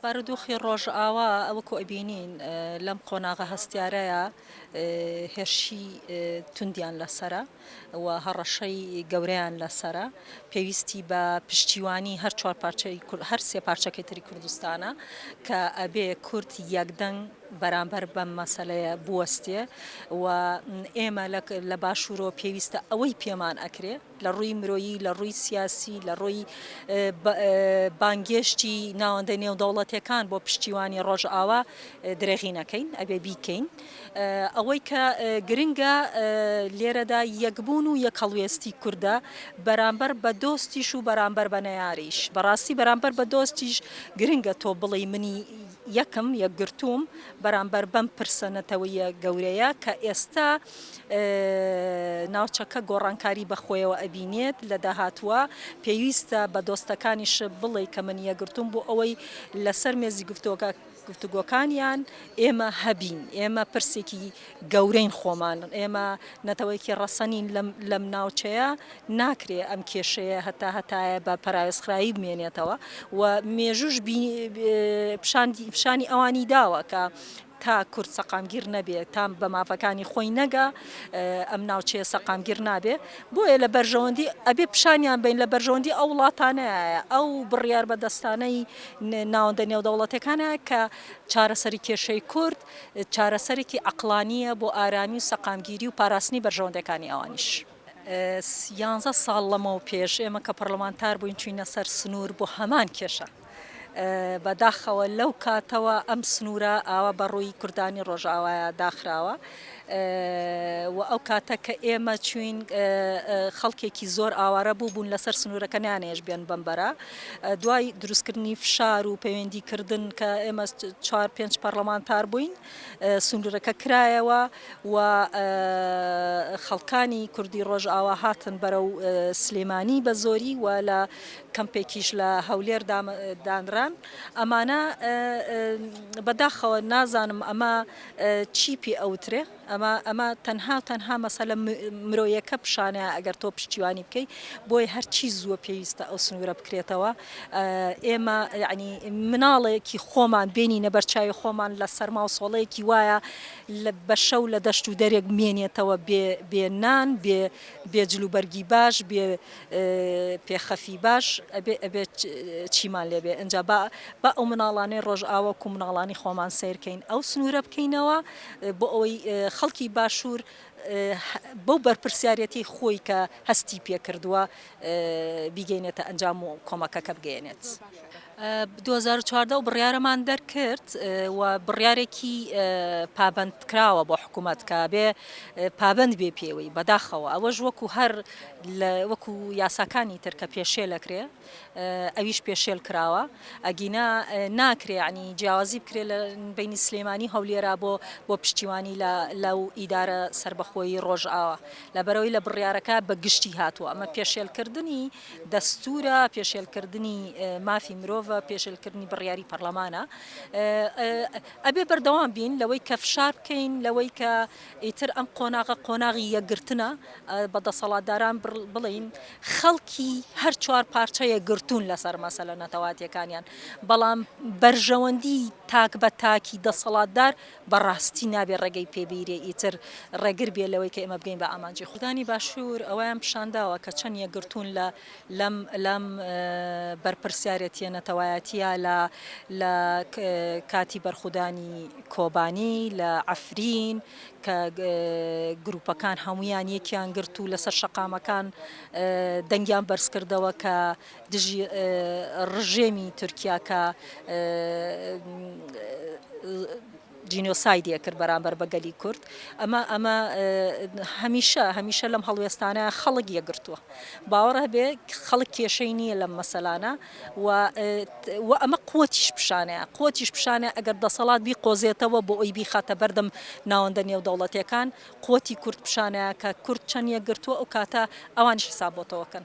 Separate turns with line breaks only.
بارودۆخی ڕۆژئاوا وەکو ئەبینین لەم قۆناغە هەستیارەیا هێرشی توندیان لەسەرە و هەڕەشەی گەورەیان لەسەرە پێویستی بە پشتیوانی هەر چوار پارچەی کورد هەر سێ پارچەکەی تری کوردستانە کە ئەبێ کورد یەکدەنگ بەرامبەر بەم مەسەلەیە بوەستێ و ئێمە لە باشوورەوە پێویستە ئەوەی پێمان ئەکرێ لە ڕووی مرۆیی، لە ڕووی سیاسی، لە ڕووی بانگێشتی ناوەندە نێودەوڵەتێکان بۆ پشتیوانی ڕۆژئاوا درێغی نەکەین ئەبێ بیکەین. ئەوەی کە گرنگە لێرەدا یەکبوون و یەکهەڵوێستی کوردە بەرامبەر بە دۆستیش و بەرامبەر بە نەیاریش. بەڕاستی بەرامبەر بە دۆستیش گرنگە تۆ بڵێی منی یەکم، یەکگرتووم بەرامبەر بەم پرسە نەتەوەیە گەورەیە کە ئێستا، ناوچەکە گۆڕانکاری بەخۆیەوە ئەبینێت لە داهاتووە، پێویستە بە دۆستەکانیشت بڵێی کە من یەکگرتووم بۆ ئەوەی لەسەر مێزی گفتوگۆکانیان ئێمە هەبین، ئێمە پرسێکی گەورەین خۆمان، ئێمە نەتەوەیەکی ڕەسەنین لەم ناوچەیە، ناکرێ ئەم کێشەیە هەتا هەتایە بە پەراوێزخراوی بمێنێتەوە و مێژووش پیشانی ئەوانی داوە کە تا کورد سەقامگیر نەبێ، تا بە مافەکانی خۆی نەگا، ئەم ناوچەیە سەقامگیر نابێ. بۆیە لە بەرژەوەندی، ئەبێ پیشانیان بەین، لە بەرژەوەندی ئەو وڵاتانەیە، ئەو بڕیار بەدەستانەی ناوەندە نێودەوڵەتیەکانەیە کە چارەسەری کێشەی کورد، چارەسەرێکی عەقڵانییە بۆ ئارامی و سەقامگیری و پاراستنی بەرژەوەندەکانی ئەوانیش. یانزە ساڵ لەمەو پێش، ئێمە کە پەڕڵەمانتار بووین، چووینە سەر سنوور بۆ هەمان کێشە. بە داخەوە لەو کاتەوە ئەم سنوورە ئاوا بە ڕووی کوردانی ڕۆژاوایا داخراوە و ئەو کاتە کە ئێمە چوین خەڵکێکی زۆر ئاوارە بوو بوون لەسەر سنوورەکە نیانێش بێن بمبەرە دوای دروستکردنی فشار و پەیوەندی کردن کە ئێمە چوار پێنج پەرلەمانتار بووین سنوورەکە کرایەوە و خەڵکانی کوردی ڕۆژاوا هاتن بەرە و سلێمانی بە زۆری و لە کەمپێکیش لە هەولێر دانران ئەمانە بەداخەوە نازانم ئەمە چی پێ ئەوترێ ئەمە ئەمە تەنها و تەنها مەسەلە مرۆیەکە پیشانە ئەگەر تۆ پشتیوانی بکەی بۆی هەرچی زووە پێویستە ئەو سنوورە بکرێتەوە ئێمە یعنی مناڵێکی خۆمان بینی نەبەرچوی خۆمان لە سەرما و سۆڵەیەکی وایە لە بەشە و لە دەشت و دەرێک مێنێتەوە بێ بێنان بێ بێجلوبەرگی باش بێ پێ خەفی باش ئەبێ ئەبێ چیمان لێ بێ ئەجا با با ئەو مناڵانەی ڕۆژئاوا کو مناڵانی خۆمان سیرکەین ئەو سنوورە بکەینەوە بۆ ئەوەی خەڵکی باشوور بەو بەرپرسیارەتی خۆی کە هەستی پێکردووە بیگەینێتە ئەنجام و کۆمەکەکە بگەێنێت. دوو هەزار و چواردە ئەو بڕیارەمان دەرکرد و بڕیارێکی پابەندکراوە بۆ حکوومەت کە بێ پابەند بێ پێوەی بەداخەوە ئەوەش وەکو هەر وەکو یاساکانی تر کە پێشێلەکرێ ئەویش پێشێل کراوە ئەگینا ناکرێ عنی جیاوازی بکرێ لە بینی سلێمانی هەولێرا بۆ بۆ پشتیوانی لە لەو ئیدارە سربەخۆی ڕۆژئاوە لەبەرەوەی لە بڕیارەکە بە گشتی هاتووە ئەمە پێشێلکردنی دەستوورە، پێشێلکردنی مافی مرۆڤە، پێشێلکردنی بڕیاری پەڕلەمانە. ئەبێ بەردەوام بین لەوەی کە فشار بکەین لەوەی کە ئیتر ئەم قۆناغە قۆناغی یەکگرتنە، بە دەسەڵاتداران بڵێین خەڵکی هەر چوار پارچە یەکگرتوون لەسەر مەسەلە نەتەواتییەکانیان، بەڵام بەرژەوەندیی تاک بە تاکی دەسەڵاتدار بەڕاستی نابێ ڕێگەی پێ بیرێ ئیتر ڕێگر بێ لەوەی کە ئێمە بگەین بە ئامانجی خۆ. دانی باشور ئەوەیان پیشان داوە کە چەند یەکگرتوون لە لەم لەم بەرپرسیارێتیە نەتەوایەتیە لە لە کاتی بەرخودانی کۆبانی لە عەفرین کە گروپەکان هەموویان یەکیان گرت و لەسەر شەقامەکان دەنگیان بەرز کردەوە کە دژی ڕژێمی تورکیا کە جینۆسایدی ئەکرد بەرامبەر بە گەلی کورد ئەمە ئەمە هەمیشە هەمیشە لەم هەڵوێستانە خەڵک یەگرتووە باوەڕ هەبێ خەڵک کێشەی نییە لەم مەسەلانە و ئەمە قوتیش پیشانەیە قوتیش پیشانە ئەگەر دەسەڵات بی قۆزێتەوە بۆ ئەوی بیخاتە بەردەم ناوەندە نێودەوڵەتەکان قوتی کورد پیشانەیە کە کورد چەند یەگرتووە ئەو کاتە ئەوانش حسابەتەوەکەن